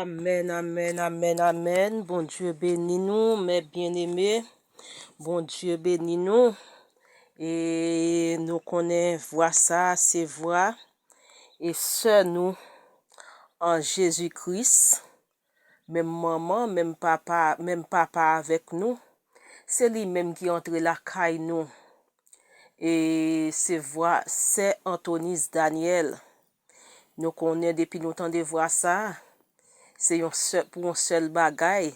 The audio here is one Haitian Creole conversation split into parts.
Amen amen amen amen Bondye beni nou mè byen eme Bondye beni nou e nou konnen vwa sa se vwa e sè nou an Jezi Kris menm manman menm papa menm papa avèk nou se li menm ki antre lakay nou e se vwa sè Antonise Daniel. Nou konnen depi nou tande vwa sa, se yon sèl pou yon sèl bagay,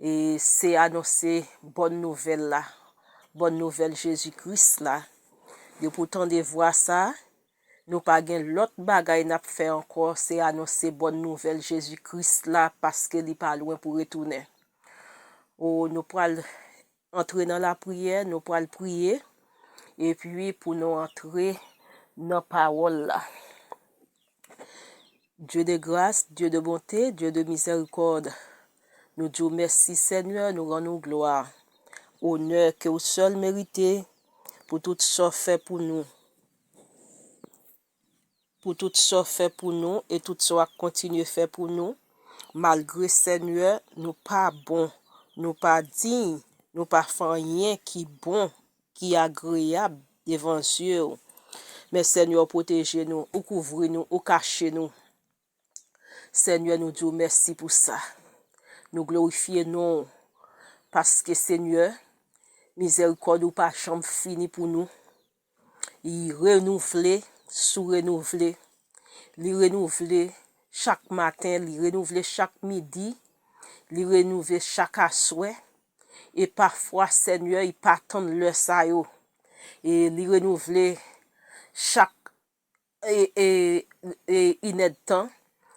e se anonse bòn nouvèl la, bòn nouvèl Jezi Kris la. Depi w tande vwa sa, nou pa gen lòt bagay n ap fè ankò, se anonse bòn nouvèl Jezi Kris la, paske li pa lwen pou retounen. O, nou pral. antre nan lapriyè nou pral priye epi pou nou antre nan pawòl la Dieu de gras Dieu de bonte Dieu de mizèrikòd nou di w mèsi senyè nou rann ou glwa onè ke ou sèl merite pou tout sa w fè pou nou. pou tout sa w fè pou nou e tout sa w ap kontinye fè pou nou malgre Senyè nou pa bon nou pa diy nou pa fè anyen ki bon ki agreyab devan zye w men Senyè ou pwoteje nou ou kouvri nou ou kache nou Senyè nou diw mèsi pou sa nou glorifye non ou paske senyè mizèrikòd ou pa janm fini pou nou li renouvle sou renouvle li renouvle chak maten li renouvle chak midi li renouvle chak aswè e pafwa senyè li pa tann lè sa yo e li renouvle chak e inèdtan,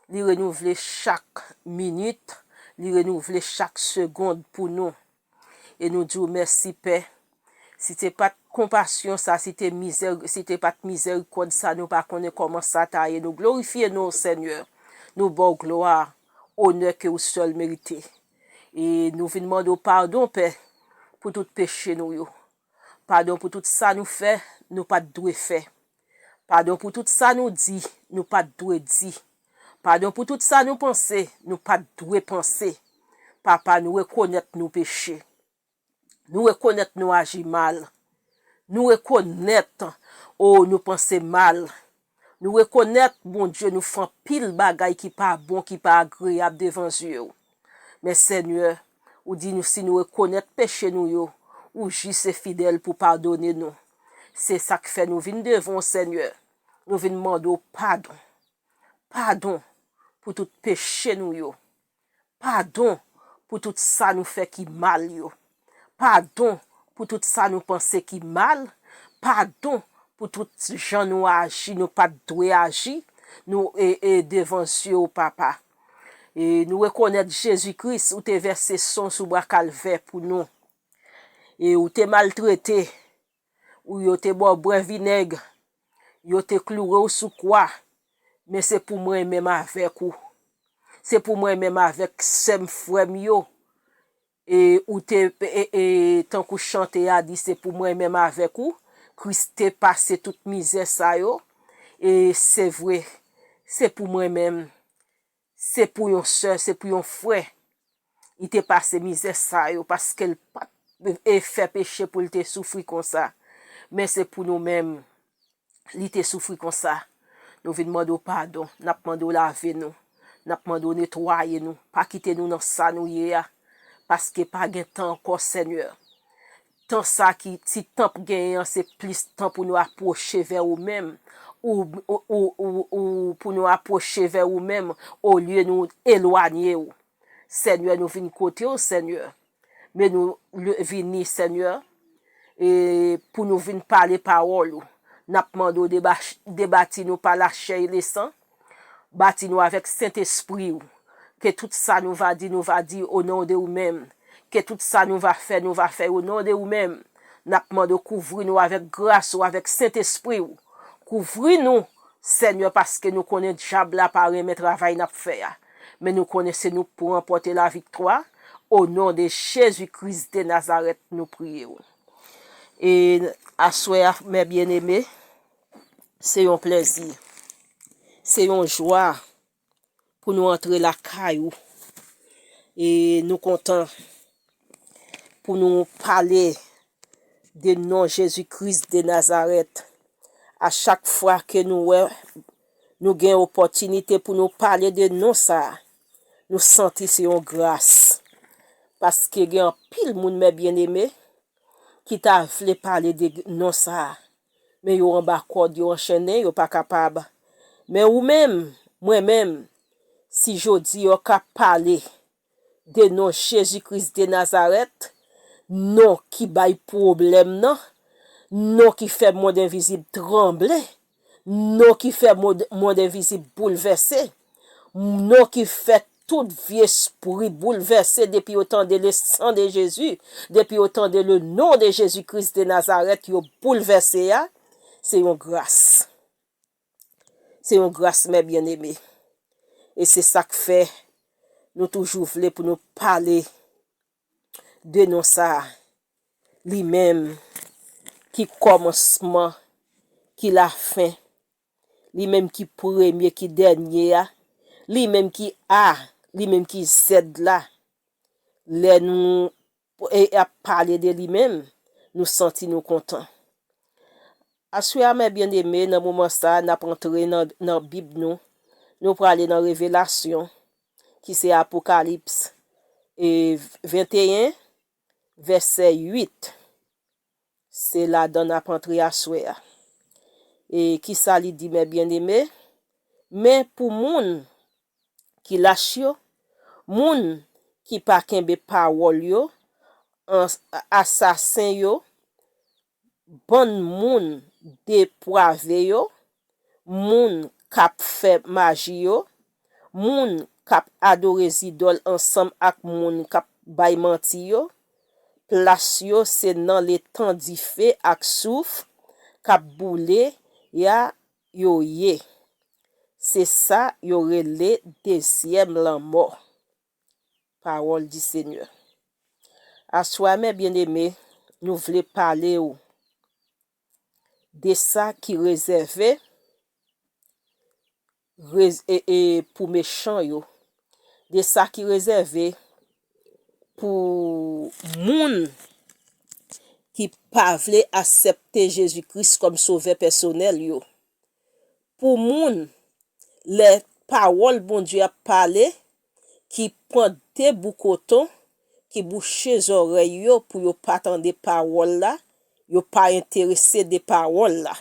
li renouvle chak minit, li renouvle chak segond pou nou. E nou di w mèsi Pè, si te pat konpasyon sa, si te mizè, si te pat mizèrikòd sa nou pa konnen kòman sa ta ye, nou glorifye non w Senyè, nou ba w glwa, onè ke ou sèl merite. E nou vin mande w padon Pè, pou tout peche nou yo. Padon pou tout sa nou fè, nou pa t dwe fè. Padon pou tout sa nou di, nou pa t dwe di. Padon pou tout sa nou panse, nou pa t dwe panse. Papa, nou rekonèt nou peche. Nou rekonèt nou aji mal. Nou rekonèt, o, nou panse mal. Nou rekonèt, Bondye, nou fè anpil bagay ki pa bon, ki pa agreyab devan zye ou. Men, Senyè, ou di nou si nou rekonèt peche nou yo, ou jis e fidèl pou padone nou. Se sa k fè nou vin devan w, Senyè, nou vin mande w padon. Padon pou tout peche nou yo. Padon pou tout sa nou fè ki mal yo. Padon pou tout sa nou panse ki mal. Padon pou tout jan nou aji nou pa t dwe aji nou devan zye w, Papa. Nou rekonèt Jezi Kris, ou te vèse san w sou bwa Kalvè pou nou. E ou te maltrete. ou yo te ba w bwè vinèg, yo te kloure w sou kwa, men se pou mwen menm avèk ou, se pou mwen menm avèk sè m, frè m yo, e ou te, e tankou chante a di se pou mwen menm avèk ou, Kris te pase tout mizè sa yo, e se vre, se pou mwen menm. Se pou yon sè, se pou yon frè li te pase mizè sa yo paske l pa t fè peche pou l te soufri konsa. Men se pou nou menm li te soufri konsa. Nou vin mande w padon, n ap mande w lave nou, n ap mande w netwaye nou, pa kite nou nan sa nou ye a, paske pa gen tan ankò Senyè. Tan sa ki ti tan p genyen an se plis tan pou nou apwoche vè ou menm ou ou pou nou apwoche vè ou menm olye nou elwanye ou Senyè nou vin kote w Senyè men nou vini Senyè e pou nou vin pale pawòl ou n ap mande w debati nou pa lachè e lesan Bati nou avèk Sentespri ou. Ke tout sa nou va di, nou va di o non de ou menm. Ke tout sa nou va fè, nou va fè o non de ou menm. N ap mande ou kouvri nou avèk gras ou, avèk Sentespri ou. Kouvri nou, Senyè, paske nou konnen dyab la pa renmen travay n ap fè a. Men nou konnen se nou k pou ranpòte laviktwa. O non de Jezi Kris de Nazarèt nou priye ou. E aswè a, mè byeneme. Se yon plèzi, se yon jwa pou nou antre lakay ou e nou kontan pou nou pale de non Jezi Kris de Nazarèt. A chak fwa ke nou wè nou gen opòtinite pou nou pale de non sa, nou santi se yon gras. Paske gen anpil moun mè byeneme ki ta vle pale de non sa. Men yo anba kòd, yo anchennen, yo pa kapab. Men ou menm, mwen menm, si jodi yo ka pale de non Jezi Kris de Nazarèt, non ki bay pwoblèm nan, non ki fè mond envizib tranble, non ki fè mond envizib boulvèse, Mno ki fè tout vye spri boulvèse depi yo tande le sang de Jezi, depi yo tande le non de Jezi Kris de Nazarèt yo boulvèse a, se yon gras. Se yon gras mè byeneme. E se sak fè nou toujou vle pou nou pale de non sa a, li menm ki kòmansman, ki lafen, Li menm ki premye ki dènye a, li menm ki A, li menm ki Z la. Lè nou e ap pale de li menm, nou santi nou kontan. Aswè a mè byeneme nan moman sa a nap antre nan nan bib nou, nou prale nan revelasyon ki se apokalips e 21 vèsè 8. Se ladan n ap antre aswè a. E ki sa li di, Mè byenneme, men pou moun ki lach yo, moun ki pa kenbe pawòl yo, asasen yo, bann moun depwave yo, moun k ap fè maji yo, moun k ap adore zidòl ansanm ak moun k ap bay manti yo, plas yo se nan letan dife ak souf k ap boule a yo ye. Se sa yo rele dezyèm lanmò. Pawòl di Senyè. Aswè a mè byeneme, nou vle pale ou de sa ki rezève pou mechan yo, de sa ki rezève pou moun ki pa vle asèpte Jezi Kris kòm Sovè pèsonèl yo, pou moun lè pawòl Bondye ap pale ki pran de bout koton ki bouche zòrèy yo pou yo pa tande pawòl la, yo pa enterese de pawòl la.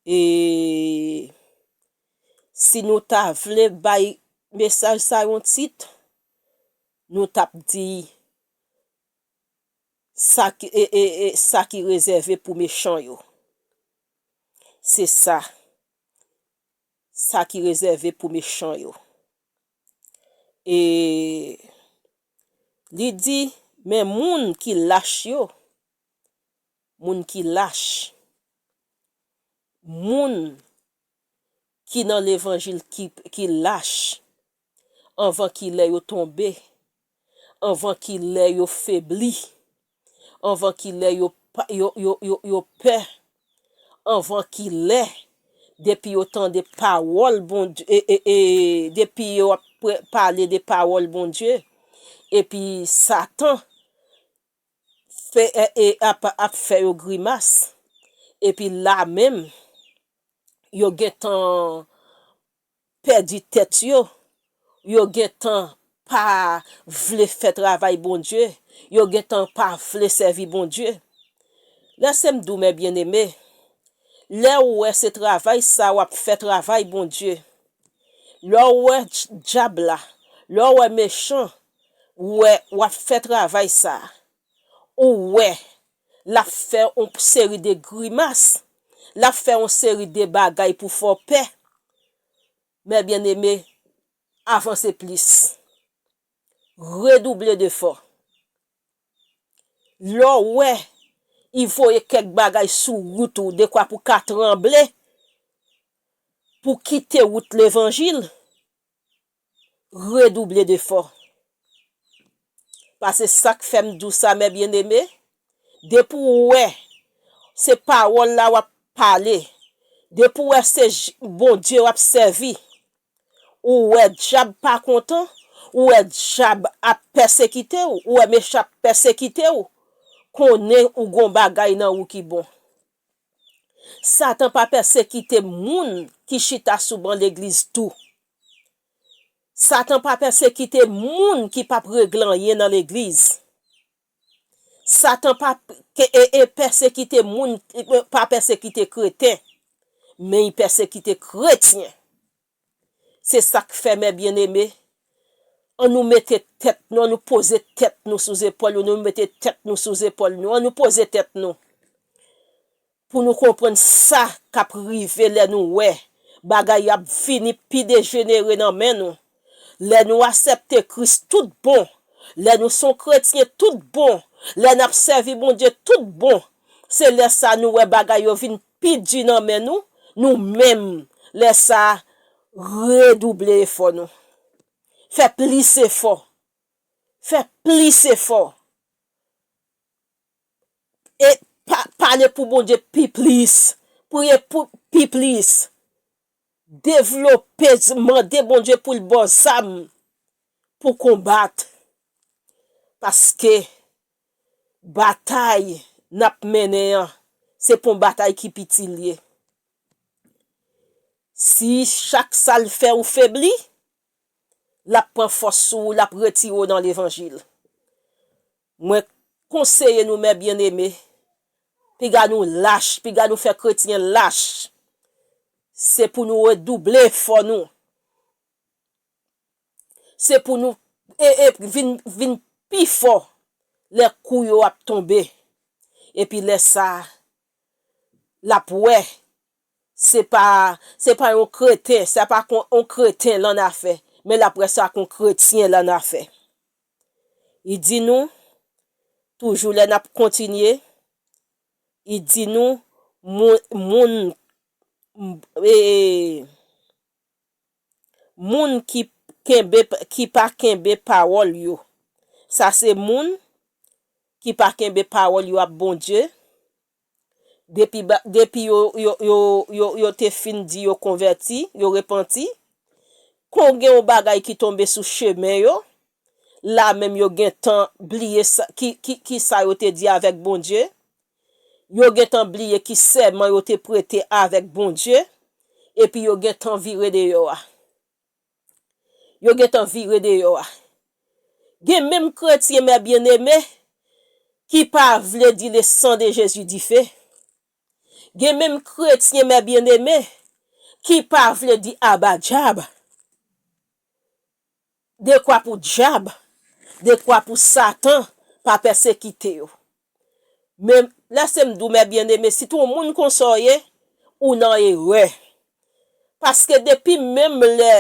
E si nou ta vle bay mesaj sa yon tit, nou t ap di, Sa ki, e, e, e, sa ki rezève pou mechan yo. Se sa. sa ki rezève pou mechan yo. E Li di, Men moun ki lach yo, moun ki lach, moun ki nan levanjil ki lach, anvan ki lè yo tonbe, anvan ki lè yo febli, anvan ki lè yo yo pè, anvan ki lè, depi yo tande pawòl Bondye, depi yo ap pale de pawòl Bondye, epi satan fè ap fè yo grimas, epi la menm, yo gentan. pèdi tèt yo, yo gentan pa vle fè travay Bondye, yo gentan pa vle sèvi Bondye. Lè se m di w mè byeneme, lè w wè se travay sa w ap fè travay Bondye, lè w wè dyab la, lè w wè mechan wè w ap fè travay sa, ou wè l ap fè yon seri de grimas, l ap fè yon seri de bagay pou fè w pè. Mè byeneme, avanse plis. Redouble defò. Lè w wè y voye kèk bagay sou wout ou dekwa pou w ka tranble, pou w kite wout levanjil, Redouble d'efò. Pase sak fèm dou sa mè byen eme, depi w wè se pawòl la wap pale, depi w wè se Bondye wap sèvi, ou wè dyab pa kontan, ou wè dyab ap pèsekite w, ou wè mechan ap pèsekite w, konnen ou gon bagay nan ou ki bon. Satan pa pèsekite moun ki chita sou ban legliz tou. Satan pa pèsekite moun ki pap regle anyen nan legliz. Satan pa pèsekite moun pa pèsekite kreten, men li pèsekite kretyen. Se sak fè mè byeneme, an nou mete tèt nou, an nou poze tèt nou sou zepòl nou, nou mete tèt nou sou zepòl nou, an nou poze tèt nou. Pou nou konprann sa kap rive lè nou wè bagay ap vini pi dejenere nan men nou, lè nou asèpte Kris tout bon, lè nou son kretyen tout bon, lè nap sèvi Bondye tout bon, se lè sa nou wè bagay yo vin pi di nan men nou, nou menm lè sa redouble efò nou. Fè plis efò. Fè plis efò. et pale pou Bondye pi plis priye pou pi plis devlope mande Bondye pou l baw zam pou konbat paske batay nap mennen an se pon batay ki piti l ye si chak sal fè ou febli lap pran fòs sou ou lap retire w nan levanjil Mwen konseye nou mè byeneme, piga nou lach, piga nou fè kretyen lach, se pou nou redouble efò nou, se pou nou vin pi fò lè kou yo ap tonbe, epi lè sa a, l ap wè, se pa, se pa yon kreten, sa pa ak yon kreten l annafè, men l ap wè sa ak yon kretyen l annafè. Li di nou, toujou lè n ap kontinye, li di nou, moun, moun ki kenbe, ki pa kenbe pawòl yo, sa se moun ki pa kenbe pawòl yo ap Bondye, Depi depi yo yo yo yo yo te fin di yo konvèti, yo repanti, kon gen yon bagay ki tonbe sou chemen yo, la menm yo gentan bliye sa ki ki ki sa yo te di avèk Bondye, yo gentan bliye ki sèman yo te prete avèk Bondye, epi yo gentan vire deyò a. Yo gentan vire deyò a. Gen menm kretyen mè byeneme ki pa vle di le san de Jezi dife. Gen menm kretyen mè byeneme ki pa vle di aba djab. Dekwa pou djab, dekwa pou satan pa pèsekite yo. Men, lèse m di w, mè byeneme, si t on moun konsa w ye, ou nan erè. Paske depi menm lè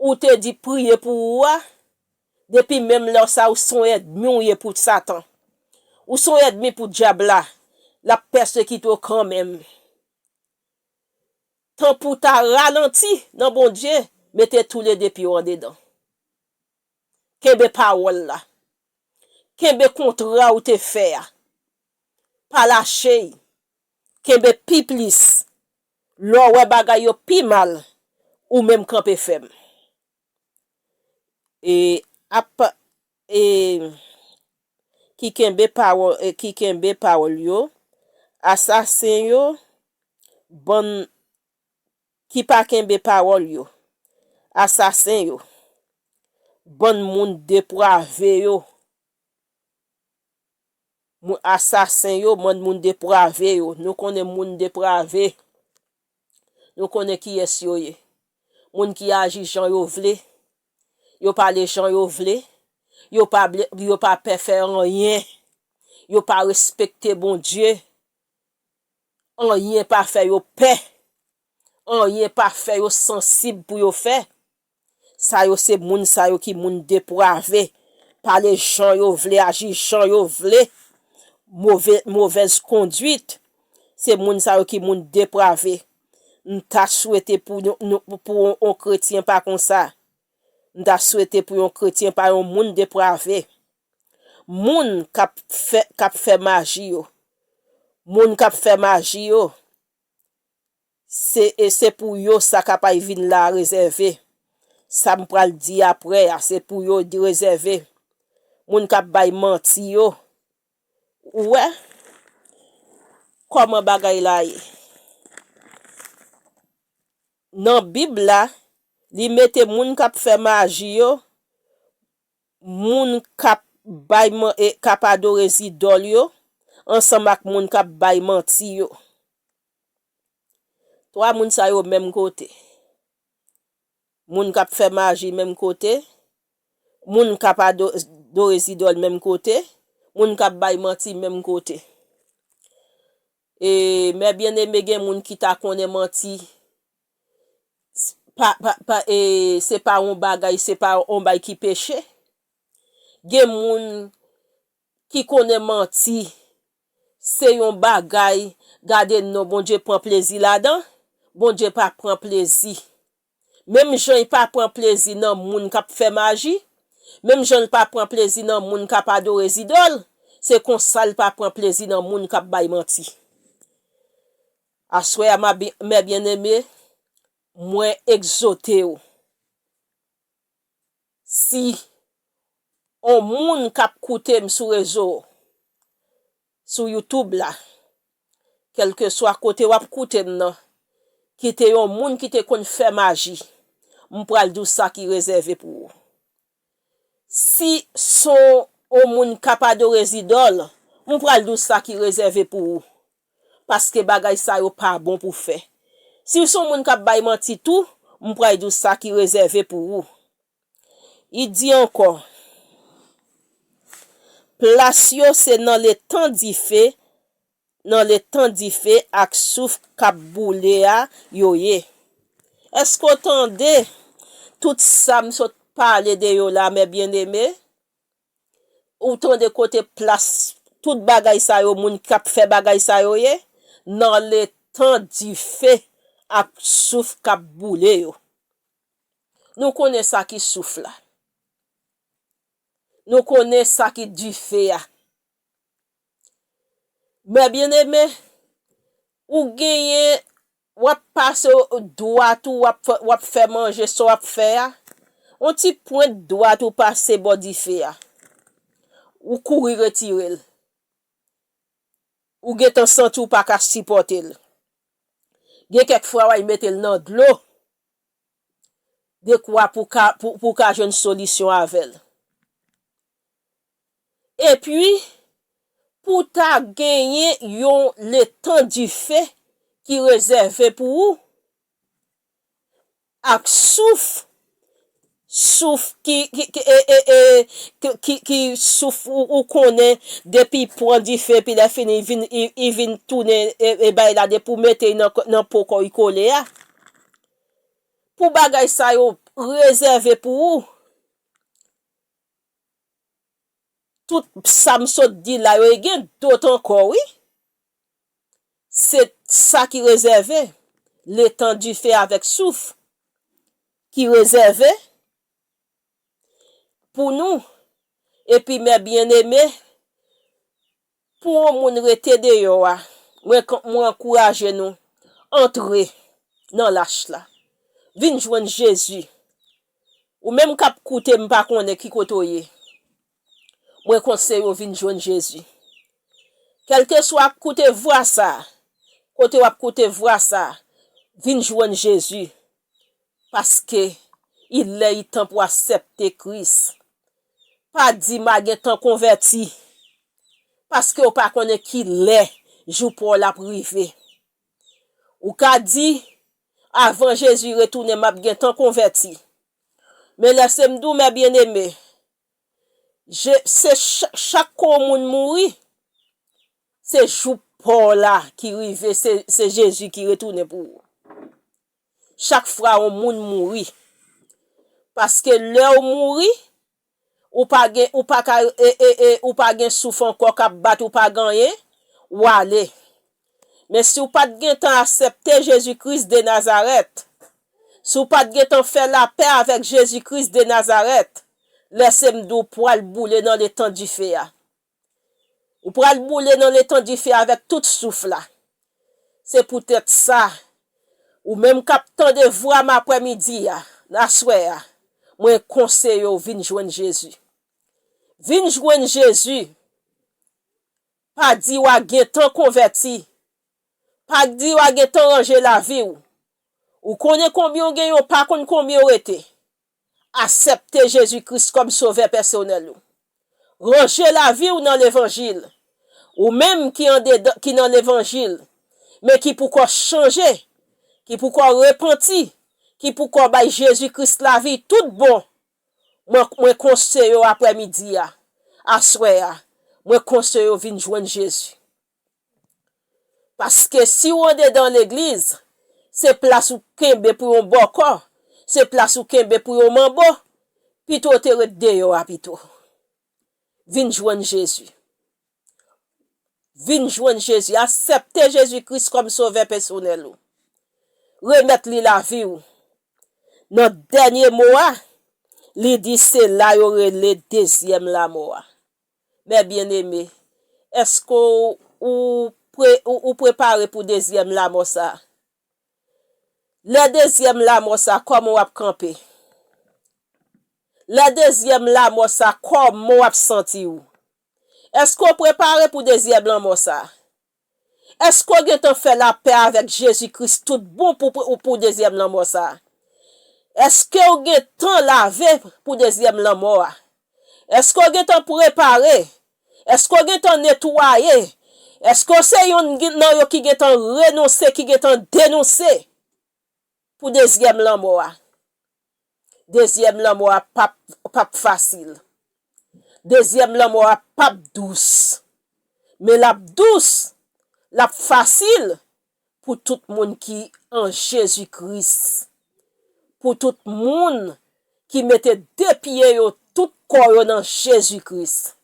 ou te di priye pou ou a, depi menm lè sa a ou s on èdmi w ye pou Satan. Ou s on èdmi pou Dyab la. L ap pèsekite w kanmenm. Tan pou w ta ralanti nan Bondye, mete toulede pye w andedan. Kenbe pawòl la. Kenbe kontra ou te fè a. Pa lache i. Kenbe pi plis. Lè w wè bagay yo pi mal, ou menm kanpe fèm. E ap e ki kenbe pawò e ki kenbe pawòl yo, asasen yo, bann Ki pa kenbe pawòl yo. Asasen yo. Bann moun deprave yo. Moun asasen yo bann moun deprave yo. Nou konnen moun deprave. Nou konnen kiyès yo ye. Moun ki aji jan yo vle. Yo pale jan yo vle. Yo pa ble yo pa pè fè anyen. Yo pa respekte Bondye. Anyen pa fè yo pè. Anyen pa fè yo sansib pou yo fè. Sa yo se moun sa yo ki moun deprave, pale jan yo vle, aji jan yo vle, move, movèz konduit. Se moun sa yo ki moun deprave. M ta swete pou yon, nou, pou yon kretyen pa konsa. M ta swete pou yon kretyen pa yon moun deprave. Moun kap fè kap fè maji yo moun kap fè maji yo se e se pou yo sa kapay vin la rezève sam pral di aprè a se pou yo di rezève moun kap bay manti yo ou wè kòman bagay la ye nan bib la li mete moun kap fè maji yo moun k ap bay man e k ap adore zidòl yo ansanm ak moun k ap bay manti yo. Twa moun sa yo menm kote. Moun k ap fè maji menm kote, moun k ap adore zidòl menm kote, moun k ap bay manti menm kote. Mè byeneme gen moun ki ta konnen manti se pa yon bagay, se pa yon bagay ki peche. Gen moun ki konnen manti se yon bagay, gade non Bondye pran plezi ladan, Bondye pa pran plezi. Menm jan y pa pran plezi nan moun k ap fè maji, menm jan l pa pran plezi nan moun k ap adore zidòl, se konsa l pa pran plezi nan moun k ap bay manti. Aswè a, mè byeneme, mwen egzote w, si on moun k ap koute m sou rezo, sou youtube la kelkeswa kote wap koutem nan kite yon moun ki te konn fè maji m pral diw sa ki rezève pou ou si son on moun kap adore zidòl m pral diw sa ki rezève pou ou paske bagay sa yo pa bon pou fè siw son moun kap bay manti tou m pray diw sa ki rezève pou ou. I di ankò, Plas yo se nan letan dife, nan letan dife ak souf k ap boule a yo ye. Èske w tande tout sa m sot pale de yo la, mè byenneme? Ou tande kote plas tout bagay sa yo, moun k ap fè bagay sa yo ye? Nan letan dife ak souf k ap boule yo. Nou konnen sa ki souf la. Nou konnen sa ki dife a. Mè byeneme, ou genyen, w ap pase dwat ou, w ap fè manje sa w ap fè a, yon ti pwent dwat ou pase bò dife a. Ou kouri retire l. Ou gentan santi ou pa ka sipòte l. Gen kèk fwa w al mete l nan dlo, dekwa pou ka pou pou ka jwenn solisyon avè l. Epi, pou ta genyen yon letan dife ki rezève pou ou ak souf souf ki ki souf ou konnen depi pwan dife epi lè fini i vin tounen e bay la depi ou mete nan po kòw i kole a pou bagay sa yo rezève pou ou tout sam sot di la yo e gen dot ankò wi. se sa ki rezève, le tan dife avèk souf, ki rezève, pou nou, epi mè byeneme, pou yon moun rete deyò a, mwen mwen ankouraje nou, antre, nan lach la, vin jwenn Jezi, ou menm kap koute m pa konnen ki kote w ye, Mwen konseye w vin jwenn Jezi. Kèlkeswa kote vwa sa, kote wap koute vwa sa, vin jwenn Jezi paske il lè il tan pou asèpte Kris. Pa di ma gentan konvèti paske ou pa konnen ki lè jou pa w la ap rive. Ou ka di avan Jezi retounen map gentan konvèti. Men lèse m di w mè byeneme, Je se chak kou yon moun mouri se jou pa w la ki rive se Jezi ki retounen pou ou. Chak fwa yon moun mouri paske lè ou mouri ou pa gen ou pa ka e e e ou pa gen souf ankò kap bat ou pa ganyen wale. Men si w pa t gentan asèpte Jezi Kris de Nazarèt, si w pa t gentan fè lapè avèk Jezi Kris de Nazarèt, lèse m di w pral boule nan letan dife a. Ou pral boule nan letan dife a avèk tout souf la. Se poutèt sa, ou menm k ap tande vwa m apre midi a, nan aswè a, mwen konseye w vin jwenn Jezi. Vin jwenn Jezi! Pa di wa gentan konvèti. Pa di wa gentan ranje lavi w. Ou konnen konbyen w genyen w pa konn konbyen w rete. Asèpte Jezi Kris kòm sovè pèsonèl ou. Ranje lavi w nan levanjil. Ou menm ki andedan ki nan levanjil men ki poukò chanje, ki poukò repanti, ki poukò bay Jezi Kris lavi tout bon Mwen mwen konste yo aprè midi a aswè a mwen konste yo vin jwenn Jezi paske siw andedan legliz se plas ou kenbe pou yon bòkò se plas ou kenbe pou yon manbo pito w te ret deyò a pito vin jwenn Jezi. Vin jwenn Jezi. Asèpte Jezi Kris kòm sovè pèsonèl ou. Remèt li lavi ou. Nan dènye mo a, li di se la yo rele dezyèm lamò a. Mè byeneme, èske ou prepare pou dezyèm lamò sa a? Lè dezyèm lamò sa, kòman w ap kanpe? Lè dezyèm lamò sa, kòman w ap santi ou? Èske w prepare pou dezyèm lanmò sa a? Èske w gentan fè lapè avèk Jezi Kris toutbon pou dezyèm lanmò sa a? Èske w gentan lave pou dezyèm lanmò a? Èske w gentan prepare? Èske w gentan netwaye? Èske w se yonn nan yo ki gentan renonse, ki gentan denonse? Pou dezyèm lanmò a. Dezyèm lanmò a pap pap fasil. Dezyèm lanmò a pap dous. Men lap dous, lap fasil pou tout moun ki an Jezi Kris. Pou tout moun ki mete de pye yo, tout kò yo nan Jezi Kris.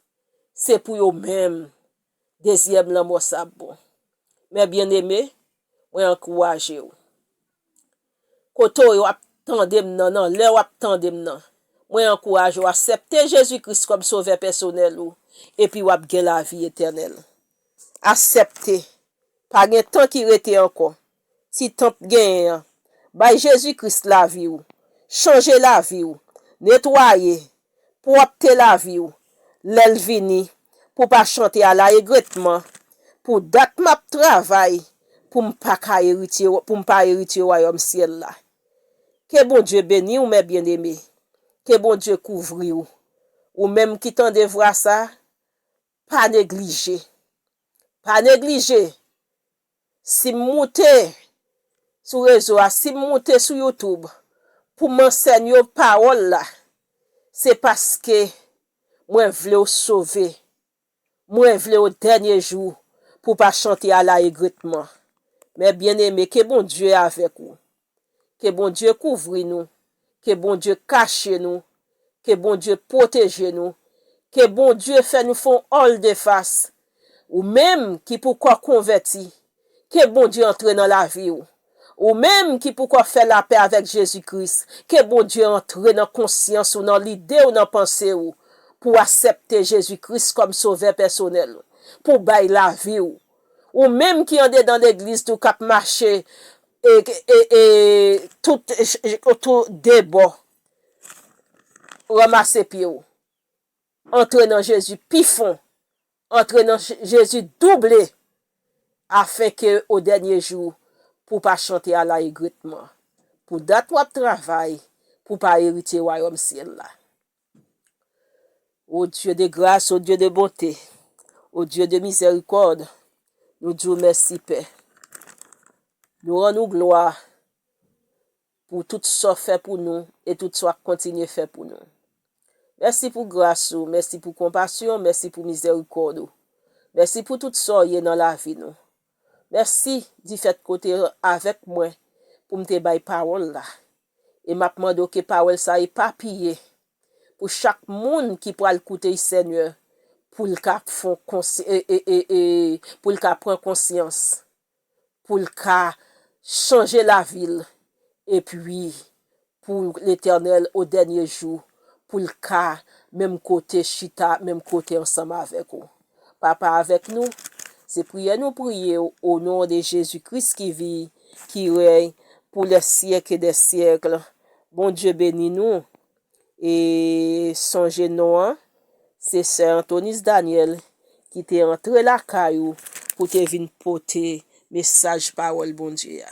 Se pou yo menm. Dezyèm lanmò sa ap bon. Mè byeneme, mwen ankouraje ou. Kote w ye w ap tande m nan, nan lè w ap tande m nan, mwen ankouraje w asèpte Jezi Kris kòm Sovè pèsonèl ou, epi w ap gen lavi etènèl. Asèpte. Pa gen tan ki rete ankò. ti tanp genyen an bay Jezi Kris lavi ou chanje lavi ou netwaye pwòpte lavi ou lèl vini pou pa chante ala egretman pou dat map travay poum pa ka eritye poum pa eritye wayòm syèl la ke Bondye beniw mè byeneme ke Bondye kouvriw ou menm ki tande vwa sa pa neglije pa neglije Si m moute sou rezo a, si m moute sou YouTube pou m ansèn yo pawòl la, se paske mwen vle w sove. Mwen vle w dènye jou pou w pa chante a la egretman. Mè byeneme, ke Bondye avèk ou. ke Bondye kouvri nou ke Bondye kache nou ke Bondye pwoteje nou ke Bondye fè nou fon òl defas ou menm ki pou kò konvèti ke Bondye antre nan lavi ou ou menm ki pou kò fè lapè avèk Jezi Kris ke Bondye antre nan konsyans ou nan lide ou nan panse ou pou asèpte Jezi Kris kòm sovè pèsonèl ou pou bay lavi ou Ou menm ki andedan legliz tou kap mache e tout tou debò ranmase pyew antre nan Jezi pi fon antre nan Jezi double afen ke o dènye jou pou pa chante ala egretman pou dat wap travay pou pa eritye wayòm syèl la. O Dieu de gras, o Dieu de bonte, o Dieu de mizèrikòd, nou di w mèsi Pè. Nou rann ou glwa pou tout sa w fè pou nou e tout sa w ap kontinye fè pou nou. Mèsi pou gras ou, mèsi pou konpasyon, mèsi pou mizèrikòd ou. Mèsi pou tout sa w ye nan lavi nou. Mèsi difèt ke w te avèk mwen pou m te bay pawòl la. E m ap mande w ke pawòl sa epapiye pou chak moun ki pral koute y Senyè pou l ka fon pou l ka pran konsyans pou l ka chanje lavi l epi pou Letènèl o dènye jou, pou l ka menm kote chita menm kote ansanm avèk ou. Papa avèk nou, se priyè nou priye w o non de Jezi Kris ki vi, ki rèy pou lè syèk e dè syèkl. Bondye beni nou e sonje non an, se sè Antonis Daniel ki te antre lakay ou pou te vin pote mesaj pawòl Bondye a.